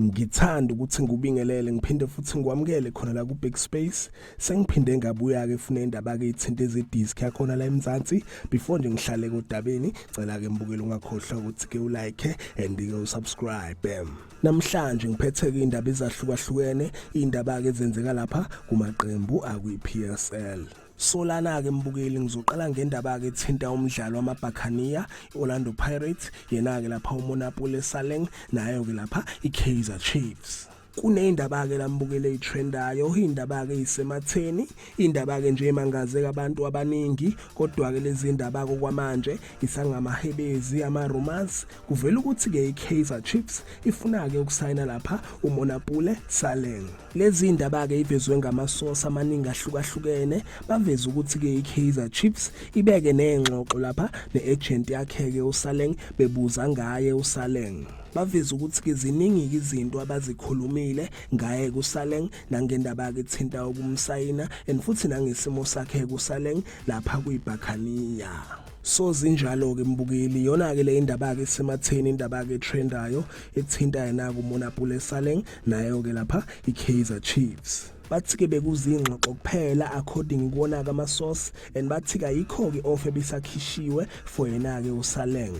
ngithanda ukuthi ngubingelele ngiphinde futhi ngikwamukele khona la ku Big Space sengiphinde ngabuya ke fune indaba ke ithinta ezedisc yakhona la eMzansi before nje ngihlale kodabeni cela ke mbukele ungakhohlwa ukuthi ke ulike and ke usubscribe Namhlanje ngiphetheke indaba ezahlukahlukene indaba ke zenzeka lapha kumaqembu akwi PSL. Solana ke mbukeli ngizoqala ngendaba ke thinta umdlalo wamaBhakaniya iOrlando Pirates yena ke lapha uMonapule Saleng nayo ke lapha iKaizer Chiefs. kuneyindaba ke lambukele itrendayo indaba ke isematheni indaba ke nje emangaze abantu abaningi kodwa ke lezi ndaba kokwamanje isangamahebezi ama rumors Kuvela ukuthi-ke i-Kaizer Chiefs ifuna-ke ukusayina lapha uMonapule Saleng. Lezi ndaba-ke ivezwe ngamasosi amaningi ahlukahlukene baveze ukuthi-ke i-Kaizer Chiefs ibeke nengxoxo lapha ne-agent yakhe-ke uSaleng bebuza ngaye uSaleng. baveze ukuthi-ke ziningi-ke izinto abazikhulumile ngaye kusaleng nangendaba-ke ethinta ukumsayina and futhi nangesimo sakhe kusaleng lapha kuyibhakhaniya so zinjalo-ke mbukeli yona-ke le indaba-ke isematheni indaba-ke etrendayo ethinta yena-ke umonapule saleng nayo-ke lapha i-kaizer chiefs bathi-ke bekuzingxoxo kuphela according kuwona-ke ama-source and bathi-ke ayikho-ke off ebisakhishiwe for yena-ke usaleng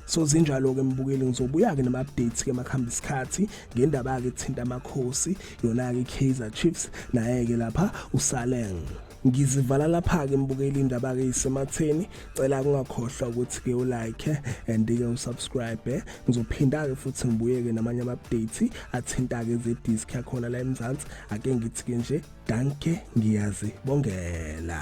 so zinjalo-ke mbukeli ngizobuya-ke nama-updates-ke makuhamba isikhathi ngendaba-ke ethinta amakhosi yona-ke i-kaizer chiefs naye-ke lapha usaleng ngizivala lapha-ke mbukeli indaba-ke isematheni cela kungakhohlwa ukuthi-ke ulike and-ke usubscribe ngizophinda-ke futhi ngibuye-ke namanye ama-update athinta-ke ezedisk yakhona la emzansi ake ngithi-ke nje danke ngiyazibongela